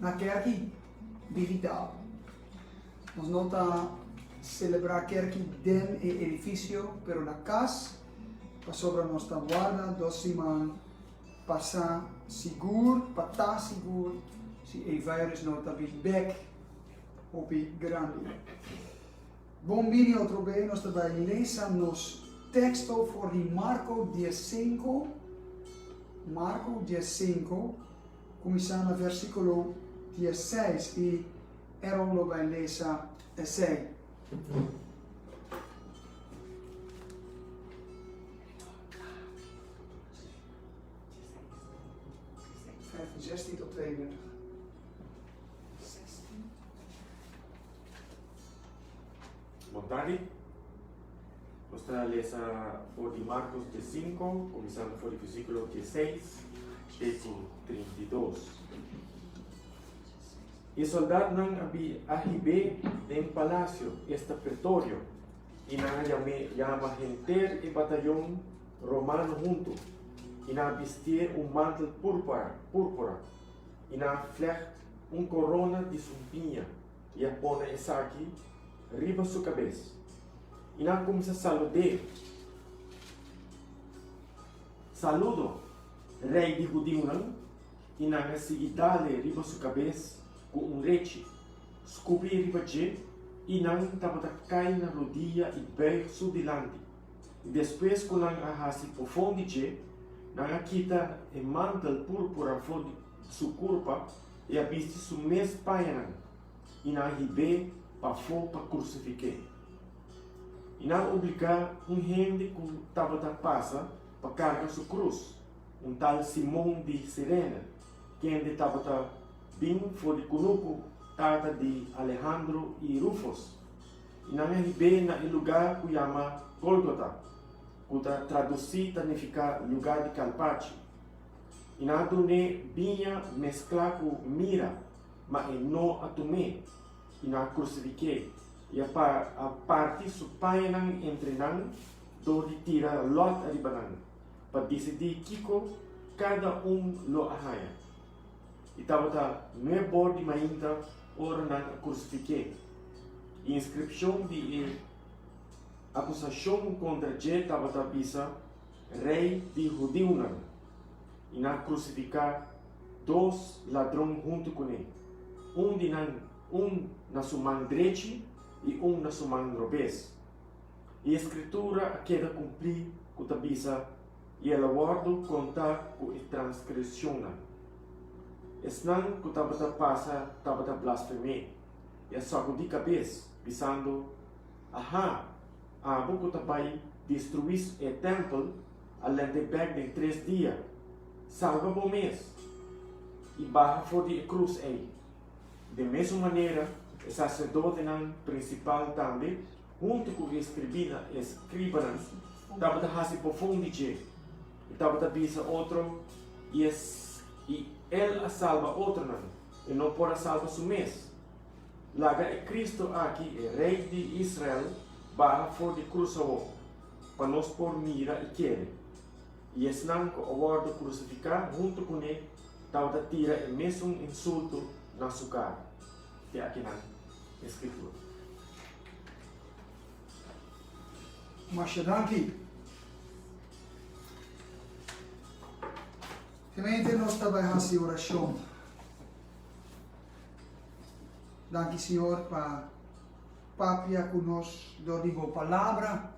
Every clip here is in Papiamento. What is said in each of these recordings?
Na kerki di Hidalgo nos no ta selebrá kerki den e edifisio pero na kas pasobra nos ta warda dos siman pa sa sigur pa ta sigur si e virus no ta bin bek hopi grandi. Bon bini otro be nos ta bai lesa nos teksto for di Marko dies sinku Marko dies sinku Kuminsá na vèrsikulo diesseis i Aaron lo bai lesa esei. Bon tardi. Nos ta lesa for di Marcos die sinku, kuminsando for di versíkulo die seis te ku trinta i dos. E sòldatnan a bin a hib'é den palasio, esta pretorio, i nan a yam'é yama henter e batayon romano huntu, i nan a bistié un mantel púrpura, i nan a flègt un korona di sumpiña. i a pone esaki riba su kabes, i nan a kuminsá salud'é, Saludo, rei di hudiunan! I nan a sigui dale riba su kabes ku un rechi, skupi riba dje, i nan tabata kai na rodia i beig su dilanti. I despues ku nan a hasi pofon di dje, nan a kita e mantel púrpura for di su kurpa, E a bisti su mes pañanan i nan a hib'é pafó pa krusifik'é. I nan a obligá un hende ku tabata pasa pa karga su krus, un tal Simon di Sirene, kende tabata bin for di kunuku, tata di Alehandro i Rufos. I nan a hib'é na e lugá ku yama Gólgota, ku ta tradusí ta nifiká Lugá di Kalpachi. i nan a dun'é biña mesklá ku mira, ma e no a tum'é, i nan a krusifik'é, i a parti su pañanan entre nan dor di tira lòt ariba nan, pa disidí kiko kada un lo a haña. I tabata nué bor di mainta ora nan a krusifik'é, i inskripshon di e akusashon kontra dje tabata bisa, Rey di Hudiunan, i nan a krusifiká dos ladron huntu kuné, un di nan un na su man drechi i un na su man robes. I e Skritura a keda kumplí ku ta bisa, I el a wòrdu kontá ku e transgresionnan. Esnan ku tabata pasa tabata blasfem'é i a sakudí kabes, bisando, Aha! Abo ku ta bai destruí e tèmpel a lènt'e bèk den tres dia, salba bo mes i baha for di e krus ei. Den mesun manera, e saserdotenan prinsipal tambe, huntu ku e eskribí na e skribanan, tabata hasi bofon di dje i tabata bisa otro, I el a salba otronan, e no por a salba su mes. Laga e Cristo aki, e Rey di Israel, baha for di cruz awor, pa nos por mira y kere. Y esnan cu a wordo crucifica hunto cuné tabata tira e mesun insulto na su cara. Te akinan e scritura. Masha danki. Gemeente, nos ta bai hasi oracion. Danki Señor pa papia cu nos dor di bo Palabra.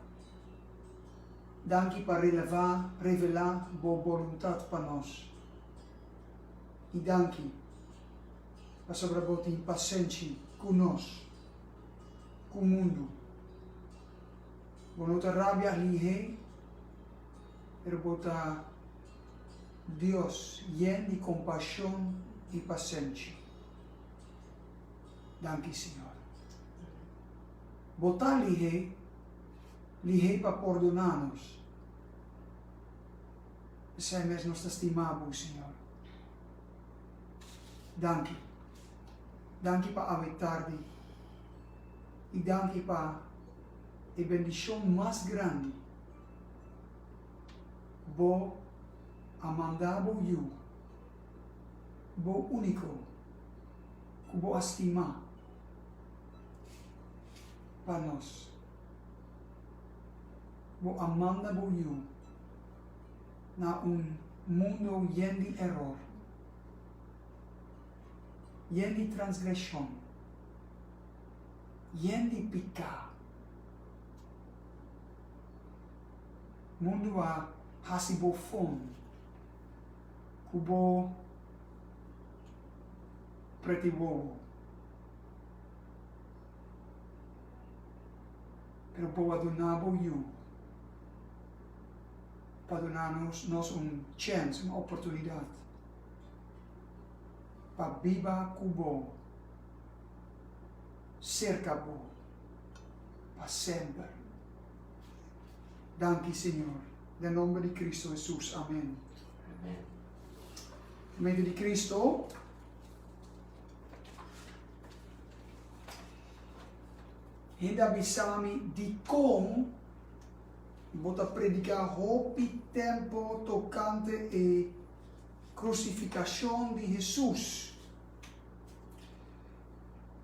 Danki pa releva, revela, bo boluntad pa nos. Y danki pasobra bo tin pasenshi cu nos, cu mundu. Bo no ta rabia ahlihe, pero bo ta. Dios yen di compashon i pasenshi. Danki Señor. Bo ta lihé, lihé pa pordona nos. Esei mes nos ta stima Bo, Señor. Danki. Danki pa awe tardi. I danki pa e bendishon mas grandi. Bo a manda Bo Yu, Bo Úniko ku Bo a stima, pa nos. Bo a manda Bo Yu na un mundo yen di eror, yen di transgreshon, yen di piká. Mundu a hasi bo fon ku bo preti wowo, pero bo a duna bo yu pa duna nos un chèns, un oportunidat pa biba ku bo, serka bo pa semper. Danki Señor. Den nomber di Cristo Hesus. Amen. Gemeente di Cristo, hende a bisa mi dikon bo ta prediká hopi tempo tokante e krusifikashon di Hesus.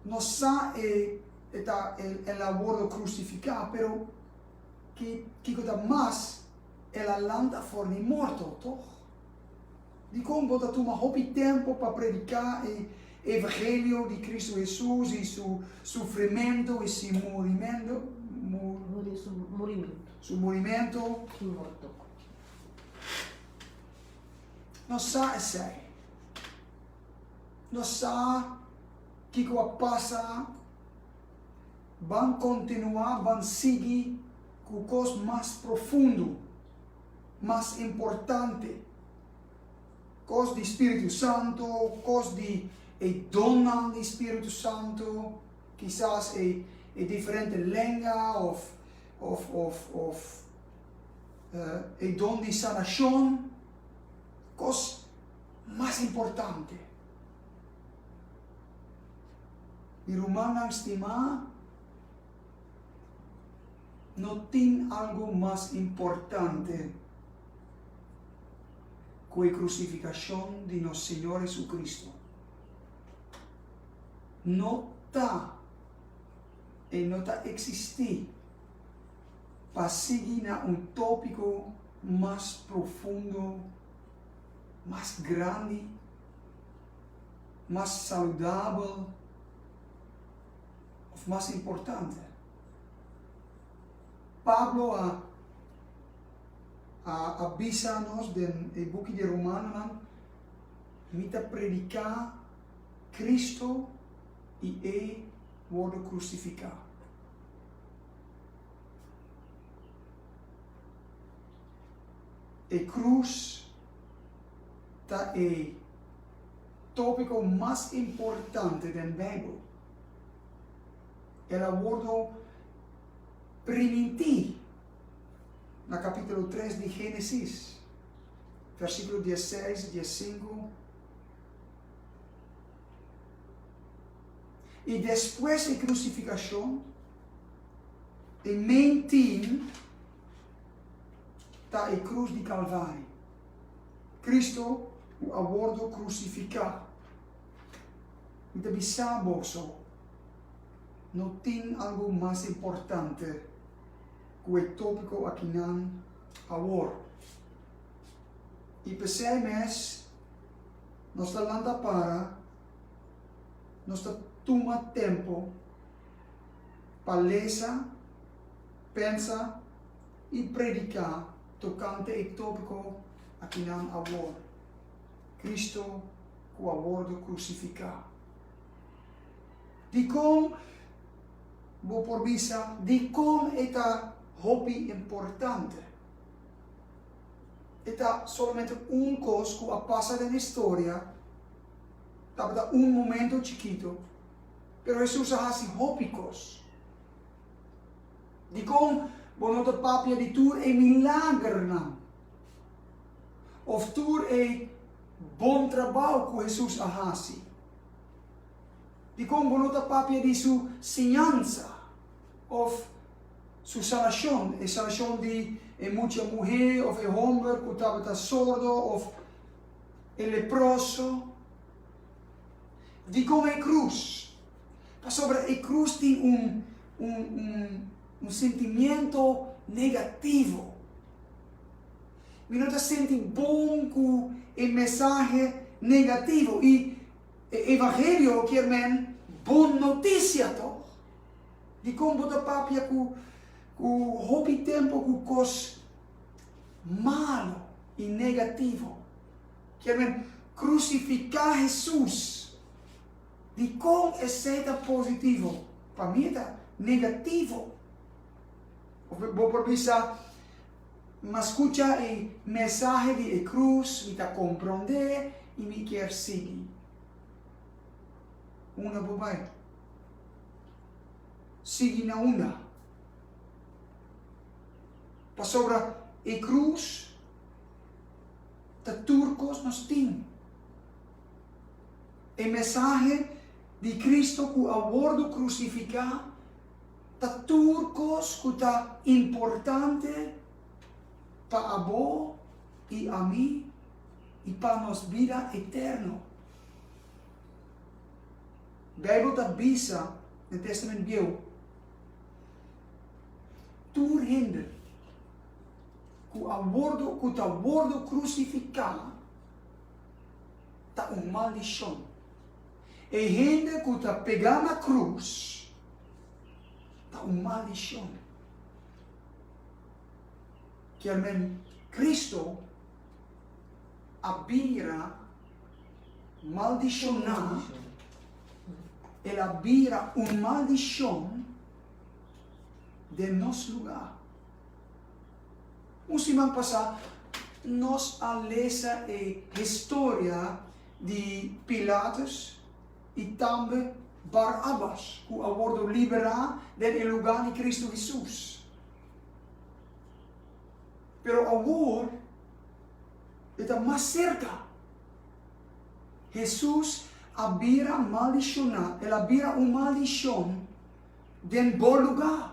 no sa e e ta el el a wordo crucifica pero ki kiko ta mas el a lanta for di morto toch? Dicon bo ta tuma hopi tempo pa predica e evangelio di Cristo Hesus y su sufrimento y si murimendo su murimento y morto no sa esey. Nos sa kiko a pasa. Ban kontinuá, ban sigui ku kos mas profundu, mas importante, kos di spiritu santu, kos di e donnan di spiritu santu, kisas e e diferente lenga òf òf òf òf e don di sanashon, kos. mas importante. Mi rumannan stimá, no tin algu mas importante ku e krusifikashon di nos Señor Hesukristu. No ta i no ta eksistí pa sigui na un tópiko mas profundo, mas grandi, mas saludabel of mas importante. Pablo a a, a bisa nos den e buki de Romanonan, mi ta prediká Kristu i e wordu krusifiká. E krus ta e tópiko mas importante den Beibel. El a wordu primintí na kapítulo tres di Génesis, versíkulo diesseis, diessinku, i despues e krusifikashon, e main theme. ta e krus di Kalvario. Kristu ku a wordu krusifiká. Mi ta bisa boso, no tin algu mas importante ku e tópiko akinan awor. I p'esei mes nos ta lanta para, nos ta tuma tempu pa lesa, Pensa i prediká tokante e tópiko akinan awor, Kristu ku a wòrdu krusifiká. Dikon bo por bisa dikon e ta hopi importante? E ta solamente un kos ku a pasa den historia, tabata un momento chikitu, pero Hesus a hasi hopi kos. Dikon bo no ta papia di tur e milagernan of tur e bon trabou ku Hesus a hasi? Dikon bo no ta papia di su siñansa of su sanashon, e sanashon di e mucha muhé of e hòmber ku tabata sordo of e leproso? Dikon e krus? Pasobra e krus tin un un un un sentimiento negativo. Mi no ta senti bon ku e mesahe negativo. I e evangelio kier men bon notisia tòg. Dikon bo ta papia ku ku hopi tempu ku kos malu i negativo? Kier men krusifiká Hesus. Dikon esei ta positivo? Pa mi e ta negativo. Of bo por bisa, M'a skucha e mensahe di e krus, mi ta komprondé i mi kier sigui. Unda bo bai? Sigui na unda? Pasobra e krus ta tur kos nos tin. E mesahe di Cristo cu a wordo crucifica ta tur cos cu ta importante pa abo y ami y pa nos bida eterno. Bijbel ta bisa na Testament Bieuw, Tur hende cu a wordo, cu ta wordo crucifica, ta un maldishon. E hende ku ta pegá na krus ta un maldishon. Kialmen Kristu a bira maldishoná, el a bira un maldishon den nos lugá. Un siman pasá nos a lesa e historia di Pilatus i tambe Barabbas ku a wordu liberá den e lugá di Kristu Hesus. Pero awor e ta mas serka. Hesus a bira maldishoná, el a bira un maldishon den bo lugá.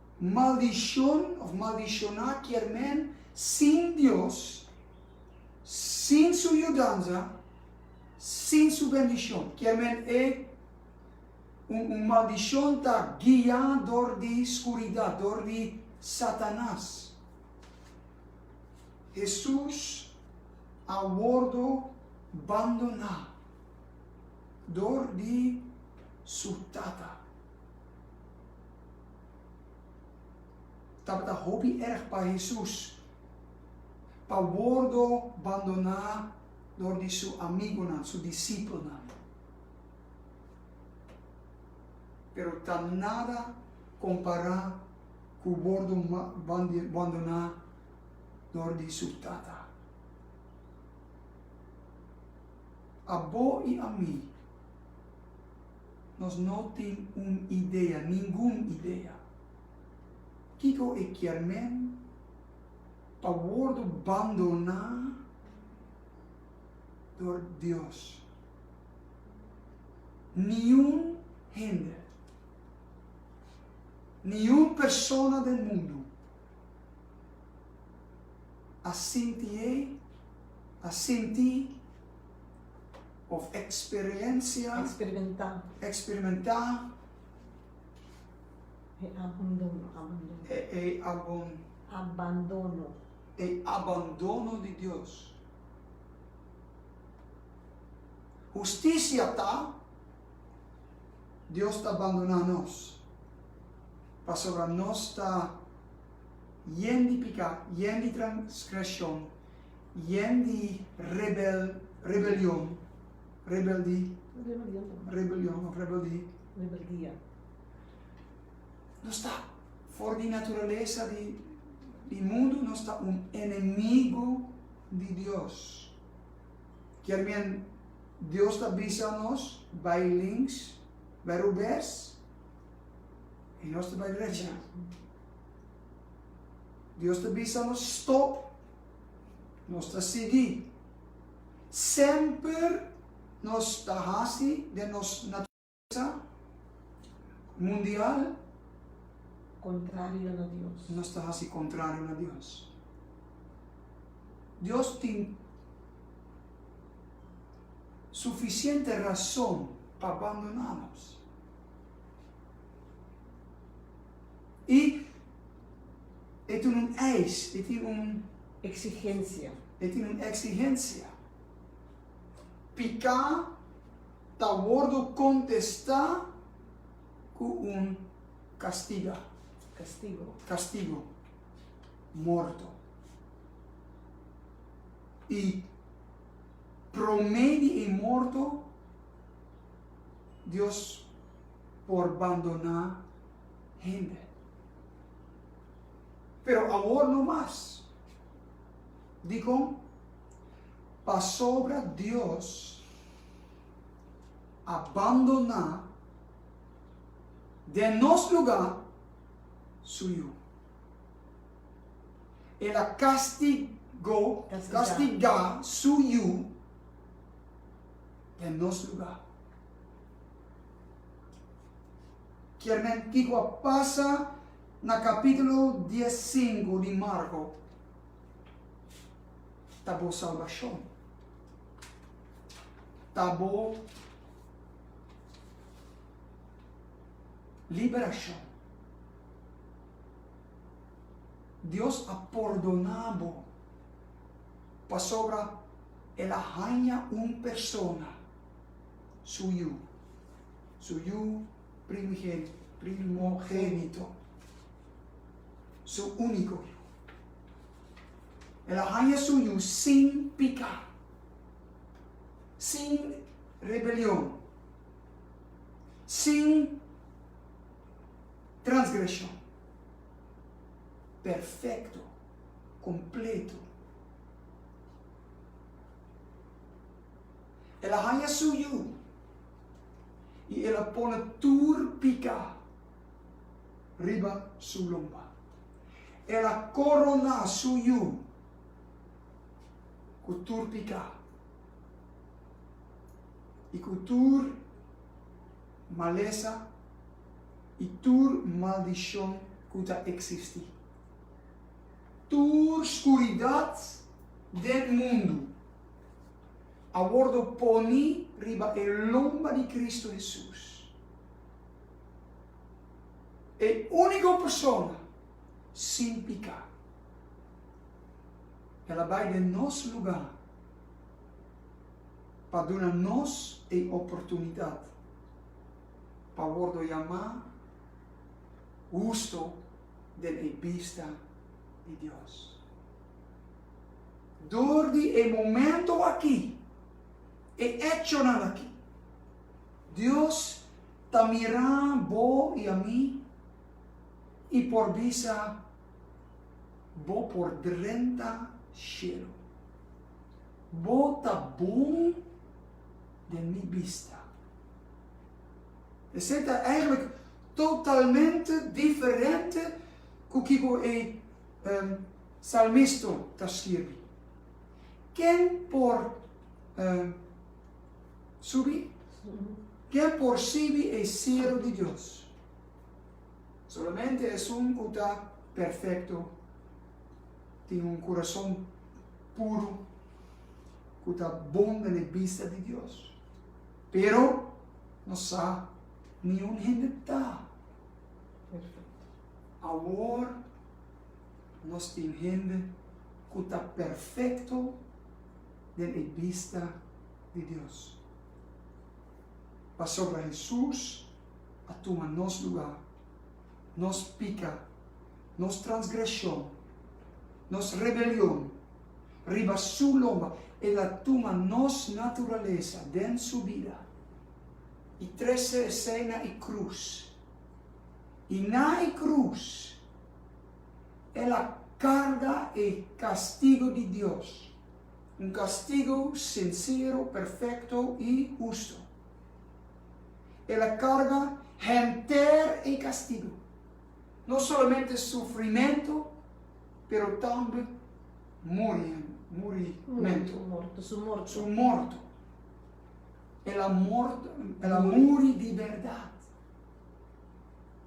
maldishon of maldishoná kier men sin Dios, sin su yudanza, sin su bendishon. Kier men e un un maldishon ta guiá dor di skuridat, dor di Satanas. Hesus a wordo bandoná dor di su Tata. tabata hopi erg pa Hesus pa wordo bandoná dor di su amigunan, su disipelnan. Pero ta nada kompará ku wordo bandoná dor di su Tata. Abo i ami. Nos no tin un idea, ningun idea. Kiko e kier men pa wordo bandoná dor Dios? Niun hende, niun persona den mundu a sinti ei, a sinti. of eksperensia, Eksperementá. eksperimentá, E abondono, abandono. e e abon, Abandono. e abandono di Dios. Hustisia ta, Dios ta bandoná nos, pasobra nos ta yen di piká, yen di transgreshon, Yen di rebel, rebelion, rebeldi, rebelion of rebeldi. Rebeldia. Nos ta for di naturalesa di di mundu, nos ta un enemigu di Dios. Kier men Dios ta bisa nos bai links, bai rubes, i nos ta bai drecha. Dios ta bisa nos stop. nos ta sigui. Semper nos ta hasi den nos naturesa mundial. Contrario na Dios. Nos ta hasi contrario na Dios. Dios tin suficiente rason pa bandona nos. i e tin un eis, e tin un. Eksigensia. E tin un eksigensia. Piká ta wordu kontestá ku un kastiga. Kastigo. Kastigo. Morto. I promé di e morto Dios por bandoná. hende. Pero awor no mas. Dikon? Pasobra Dios a bandoná den nos lugá su Yu. El a kastigó, kastigá, su Yu den nos lugá. kier nan i ku a pasa na kapítulo dies sinku di Marko ta bo salbashon, ta bo liberashon. Dios a pordoná bo pasobra el a haña un persona su yu. Su Yu primogénito, Su único Yu. El a haña Su Yu sin piká, sin rebelion, sin transgreshon, perfecto, completo. El a haña su yu i el a pone tur pika riba su lomba. El a koroná su yu ku tur pika i ku tur malesa i tur maldishon ku ta eksistí. Tur skuridat den mundu. a wordo poni riba e lomba di Kristu Hesus, e úniko Persona sin piká. El a bai den nos lugá pa duna nos e oportunidat pa wordo yamá husto den e bista di Dios. Dor di e momento aki, e echonan aki, Dios ta mirá bo i a mi i por bisa, Bo por drenta shelu. Bo ta bon den mi bista. Esei ta eigenlijk totalmente diferente ku kiko e. Un salmisto ta skirbi, Ken por subi? Ken por sibi e sielu di Dios? Solamente esun ku ta perfekto, tin un kurason puru, ku ta bon den e bista di Dios. Pero nos sa niun hende ta. Awor nos tin hende ku ta perfekto den e bista di Dios. Pasobra Hesus a tuma nos lugá, nos pika, nos transgreshon, nos rebelion, riba su lomba, el a tuma nos naturalesa den su bida i trese esei na e krus. i na e krus el a karga e kastigo di Dios, un kastigo sinsero, perfekto i husto. El a karga henter e kastigo, no solamente sufrimentu, pero tambe murimentu, su morto. El a muri di bèrdat.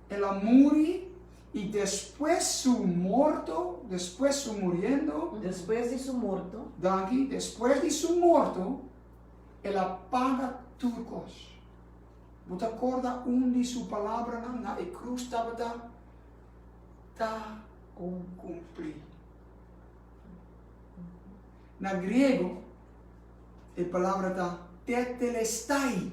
El a muri y despues su morto, despues su muriendo. Despues di su morto. Danki, despues di su morto, El a paga tur cos. Bo ta corda un di su palabranan na e cruz tabata, Ta cumpli. Na griego, e palabra ta tetelestai.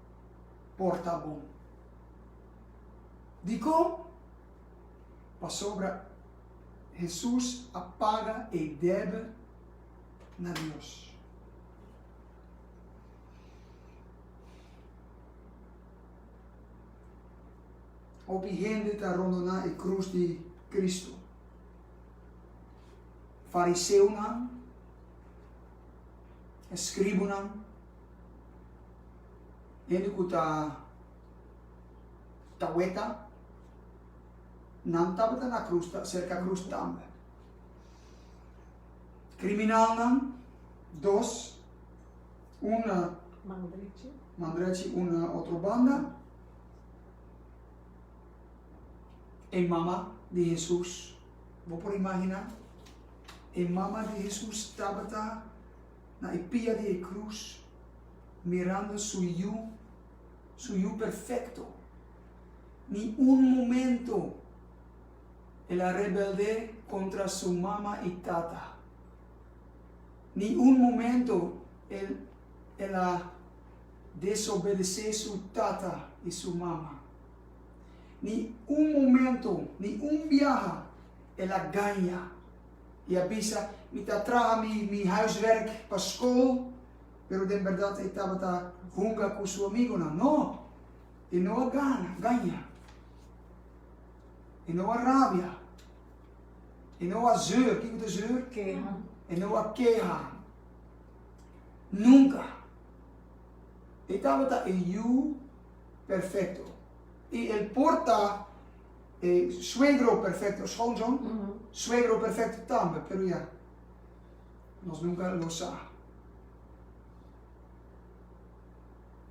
porta bon. Dikon? Pasobra Hesus a paga e debe na Dios. Hopi hende ta rondoná e krus di Kristu. Fariseonan, eskribunan, hende ku ta ta weta nan tabata na krus ta serka krus tambe kriminalnan dos un na man drechi un na otro banda e mama di Hesus bo por imaginá e mama di Hesus tabata. na e pia di e krus, mirando su Yu, su Yu perfekto. Ni un momento El a rebeldé kontra su mama i tata. Ni un momento El El a desobedesé su tata i su mama. Ni un momento, ni un biaha El a gaña. I a bisa, Mi ta traha mi huiswerk pa skol. Pero den bèrdat e tabata hunga ku su amigonan? No! E no a gana gaña. E no a rabia. E no a zeur. Kiko ta zeur? Keha. E no a keha. Nunka. E tabata e yu perfekto. I el por ta. E suegro perfecto schoon John, suegro perfecto tambe pero ya nos nunca lo sa.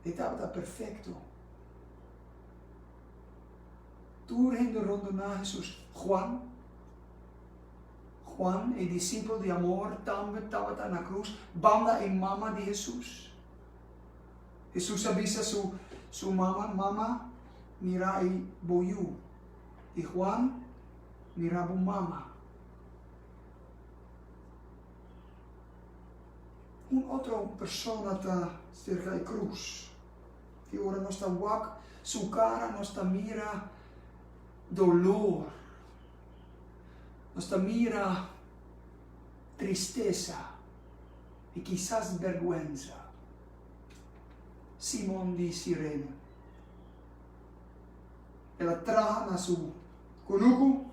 E tabata perfecto. Tur hende rondona Jesus. Juan, Juan e discipel di amor tambe tabata na cruz banda e mama di Jesus. Hesus a bisa su su mama, Mama, mira ei bo yu, i Juan, Mira bo mama. Un otro persona ta serka e krus, i ora nos ta wak su kara nos ta mira dolor, nos ta mira tristesa. i kisas berguensa. Simon di Sirene. El a traha na su kunuku,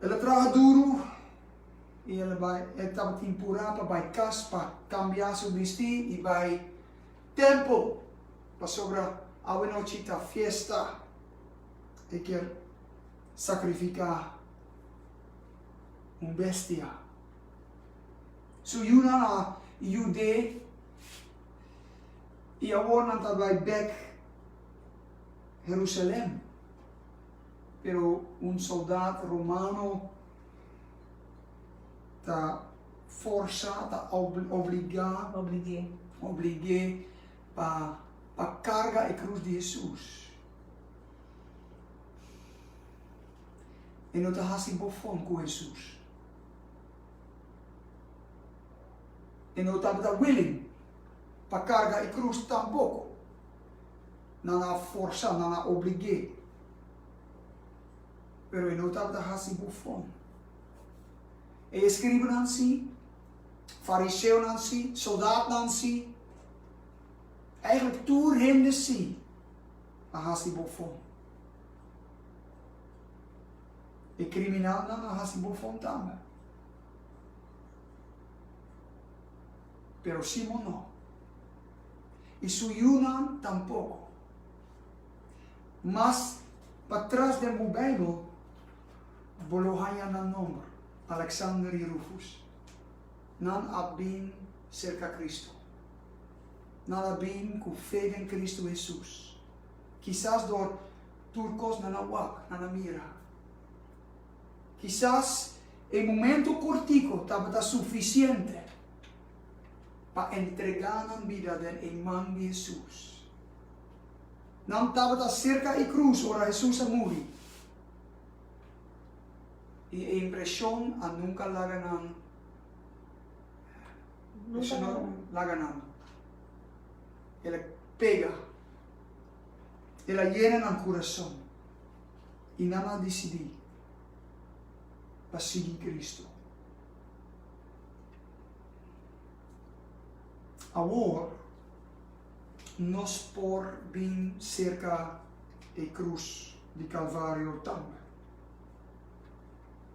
el a traha duru i el a bai, el tabatin purá pa bai kas pa kambia su bistí i bai tèmpel, pasobra awanochi ta fiesta, e kier sakrifiká. un bestia. So yu no a yud'é i awor nan ta bai bèk Herusalen. Pero un soldat romano ta forsá, ta obligá, oblig'é pa karga e krus di Hesus. e no ta hasi bo fon ku Hesus. E no tabata willing pa karga e krus tampoko. Nan a forsá, nan a oblig'é, pero e no tabata hasi bo fon. E eskribunan sí, fariseonan sí, soldatnan sí, eigentlik tur hende sí a hasi bo fon. E criminalnan a haci bufon tambe. Pero Simon no. Y su yunan tampoco. Mas pa tras den bo Bijbel bo lo haya nan nomber, Alexander y Rufus. Nan a bin cerca Cristo. Nan a bin cu fe den Cristo Jesus. Kisas dor tur kos nan a wak, nan a mira. Kisas e momentu kortiko tabata sufisiente pa entregá nan bida den e man di Hesus. Nan tabata serka e krus ora Hesus a muri, i e impreshon a nunka laga nan laga nan. El a pega. El a yena nan kurason i nan a disidí pa sigui Kristu. Awor nos por bin serka e krus di Kalvario tambe.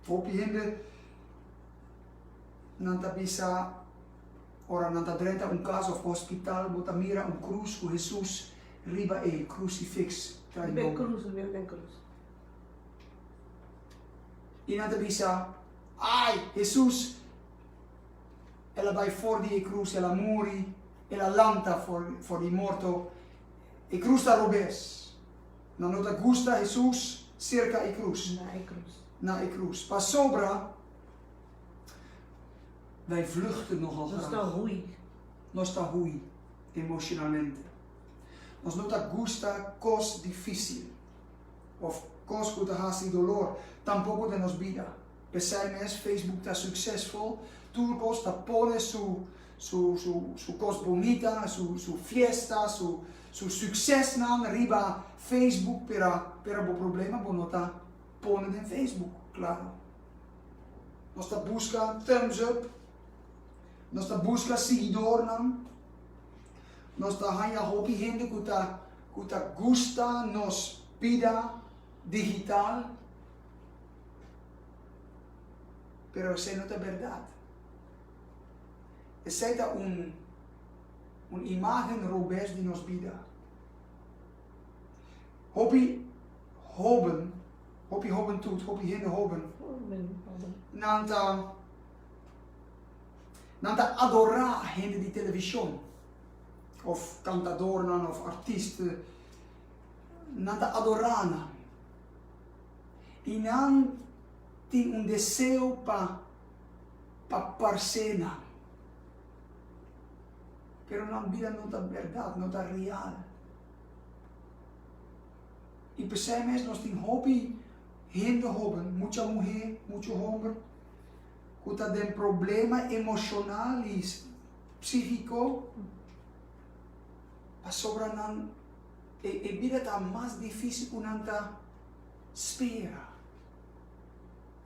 Hopi hende nan ta bisa, Ora nan ta drenta un kas òf hospital, bo ta mira un krus ku Hesus riba ei, Krusifiks Trai Nobo. I nan ta bisa, Ai, Hesus, el a bai for di e krus, el a muri, el a lanta for di morto, e krus ta robes. Nan no ta gusta Hesus serka e krus, na e krus. Pasobra, Bai vluchten nogal graag. Nos ta hui. Nos ta hui, emocionalmente. Nos no ta gusta cos dificil of cos cu ta haci dolor, tampoco den nos bida. Pesai mes Facebook ta succesful, tur cos ta pone su su su su cos bonita, su su fiesta, su su succesnan riba Facebook, pero pero bo problema bo no ta pone den Facebook, claro. Nos ta buska thumbs up. Nos ta buska siguidornan. Nos ta haña hopi hende ku ta ku ta gusta nos bida digital. Pero esei no ta bèrdat. Esei ta un un imagen robes di nos bida. Hopi hóben, hopi hóbentud, hopi hende hóben, nan ta nan ta adorá hende di televishon òf kantadornan òf artist. Nan ta adorá nan i nan tin un deseo pa pa parsé nan. pero nan bida no ta berdad, no ta real. I p'esei mes nos tin hopi hende hoben, mucha muhé, mucho homber, ku ta den problema emoshonal i psíkiko, pasobra nan e bida ta mas difísil ku nan ta spera.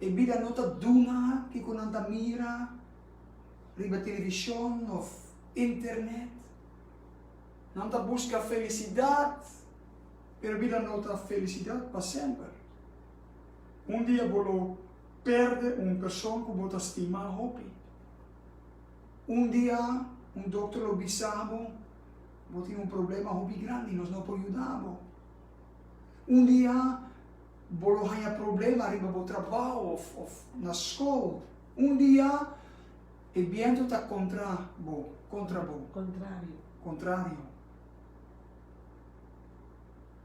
E bida no ta duna kiko nan ta mira. riba televishon òf Internet. Nan ta buska felisidat, pero bida no ta felisidat pa semper. Un dia bo lo pèrdè un person ku bo ta stima hopi. Un dia un dokter lo bisa bo, Bo tin un problema hopi grandi, nos no por yuda bo. Un dia bo lo haña problema riba bo trabou òf na skol. Un dia e bientu ta contra bo, contra bo. Contrario. Contrario.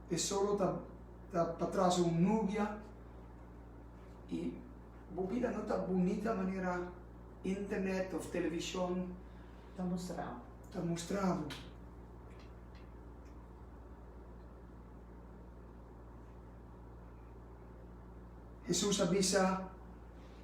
E solo ta ta patras un nubia y bo bida no ta bunita manera internet of television Ta mostrabo. ta mostrabo. Hesus a bisa.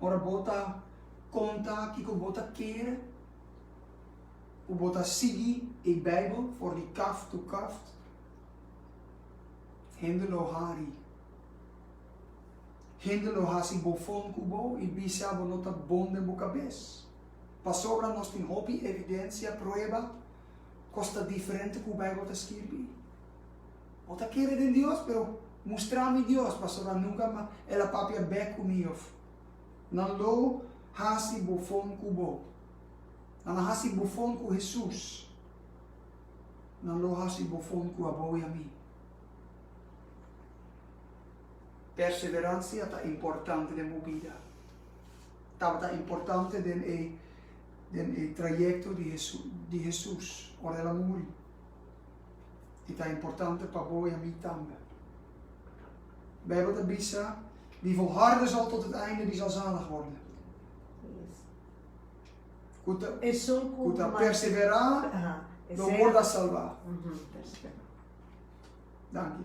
Ora bo ta konta kiko bo ta kere ku bo ta sigui e Beibel for di kaft to kaft, hende lo hari. Hende lo hasi bofon ku bo i bisa bo no ta bon den bo kabes. Pasobra nos tin hopi evidensia, prueba, kos ta diferente ku Beibel ta skirbi. Bo ta kere den Dios, pero mustra mi Dios, pasobra nunca mas El a papia bek cu mi of nan lo haci bofon cu Bo. Nan a haci bofon cu Hesus, nan lo haci bofon cu abo y a mi. Perseverancia ta importante den bo bida. Tabata importante den e den e trayecto di Hesus, ora El a muri. i ta importante pa bo i ami tambe. Bijbel ta bisa, Die volharden zal tot het einde, die zal zalig worden. Ku ta, ku ta persevera, lo worda salva. Danki.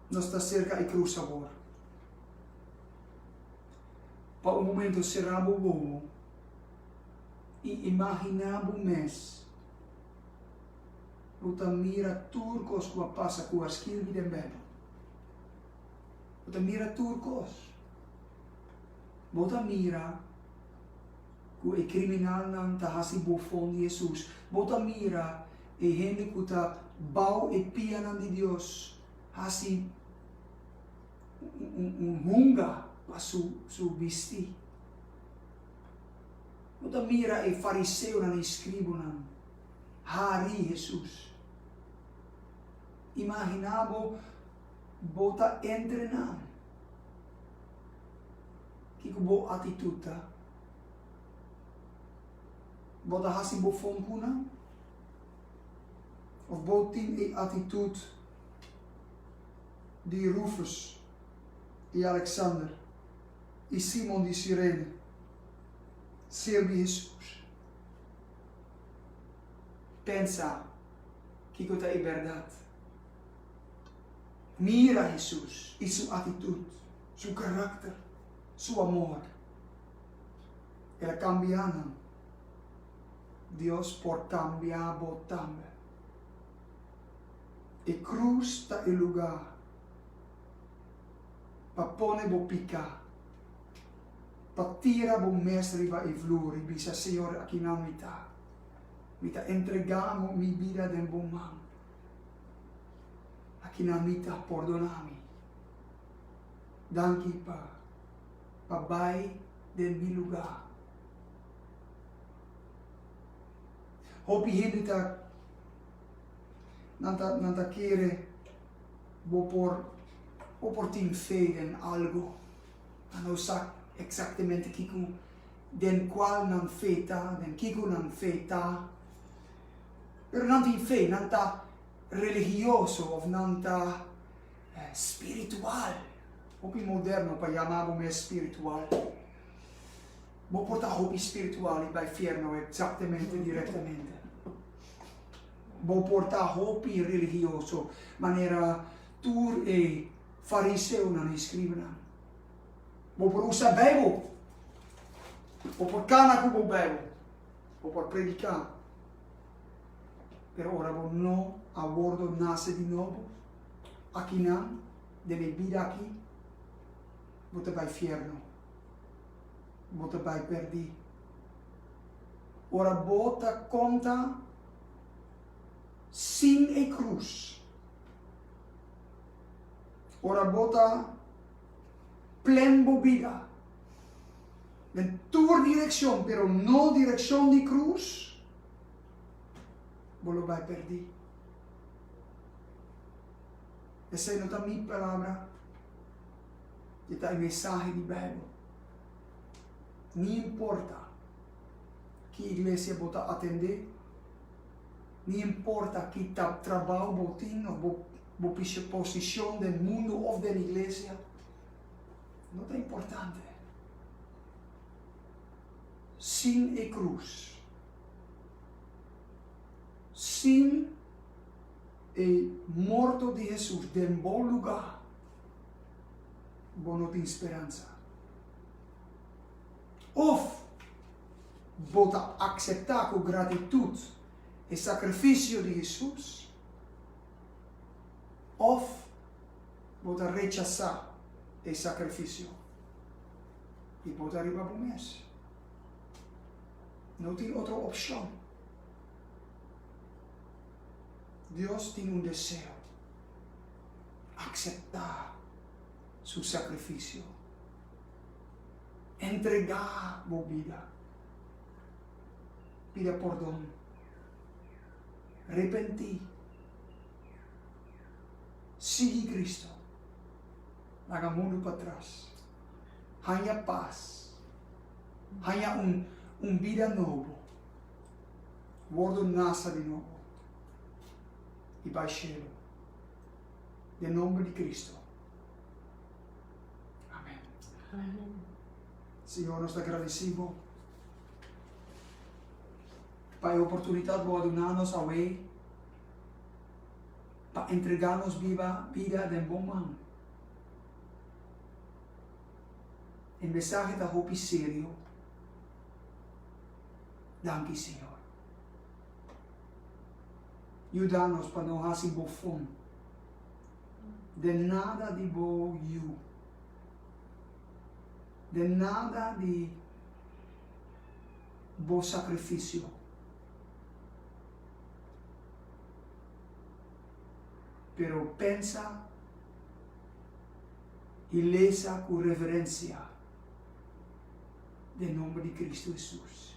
Nos ta cerca i cruz sabor. Pa un momento cerramos bobo i imaginá bo mes bo ta mira tur kos ku a pasa ku a skirbi den Beibel. Bo ta mira tur kos. Bo ta mira ku e kriminalnan ta hasi bofon di Hesus. Bo ta mira e hende ku ta bou e pianan di Dios hasi. un hunga pa su bisti. Bo ta mira e fariseonan i scribunan hari Jesus. Imagina bo bo ta entre nan, kico bo actitud ta? Bo ta haci bo fon cu nan? Of bo tin e actitud. di Rufus i Aleksander i Simon di Sirene, serbi Hesus. Pensa kiko ta e bèrdat. Mira Hesus i su atitut, su karakter, su amor. El a kambia nan. Dios por kambia bo tambe. E cruz ta e lugar pa pone bo pica, pa tira bo mes riba e vloer y bisa, Señor, aki nan mi ta. Mi ta entrega amo mi bida den bo man. Aki nan mi ta, pordona mi. Danki pa pa bay den mi lugar. Hopi hende ta. Nan ta, nan ta kere bo por, bo por tin fe den algu. Nan no sa eksaktemente kiko, den kual nan fe ta, den kiko nan fe ta. Pero nan tin fe, nan ta religioso òf nan ta spiritual. Hopi moderno pa yama bo mes spiritual. Bo por ta hopi spiritual i bai fiernu eksaktemente, direktamente. Bo por ta hopi religioso manera tur e fariseonan i escribanan. Bo por usa Bijbel, bo por cana cu bo Bijbel, bo por predica, pero ora bo no a wordo nace di nobo, akinan den e bida aki bo ta bay fierno, bo ta bay perdi. Ora bo ta konta sin e krus, ora bo ta plen bo bida den tur direkshon pero no direkshon di krus, bo lo bai pèrdí. Esei no ta mi palabra, e ta e mensahe di Beibel. ni importa ki iglesia bo ta atendé, ni importa ki trabou bo tin of bo posishon den mundu of den iglesia, no ta importante. Sin e krus, sin e morto di Hesus den bo luga. bo no tin speransa. Of bo ta akseptá ku gratitut e sakrifisio di Hesus, òf bo ta rechasá e sakrifisio i bo ta riba bo mes. No tin otro opshon. Dios tin un deseo, akseptá su sakrifisio. Entregá bo bida. Pida pordon. Ripentí. Sigui Kristu. Laga mundu patras. Haña pas. Haña un bida nobo. Wordo nasa di nobo. I bai shelu. den nomber di Cristo. Amen. Amen. Señor, nos ta gradeci bo pa e oportunidad bo a duna nos awey pa entrega nos biba bida den bo man. E mensahe ta hopi serio. Danki, Señor. Yuda nos pa no hasi bo fon den nada di bo yu, den nada di bo sakrifisio. Pero pensa i lesa ku reverensia den nomber di Kristu Hesus.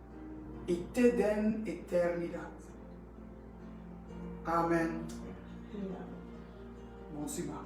i te den eternidat. Amen. Bon siman.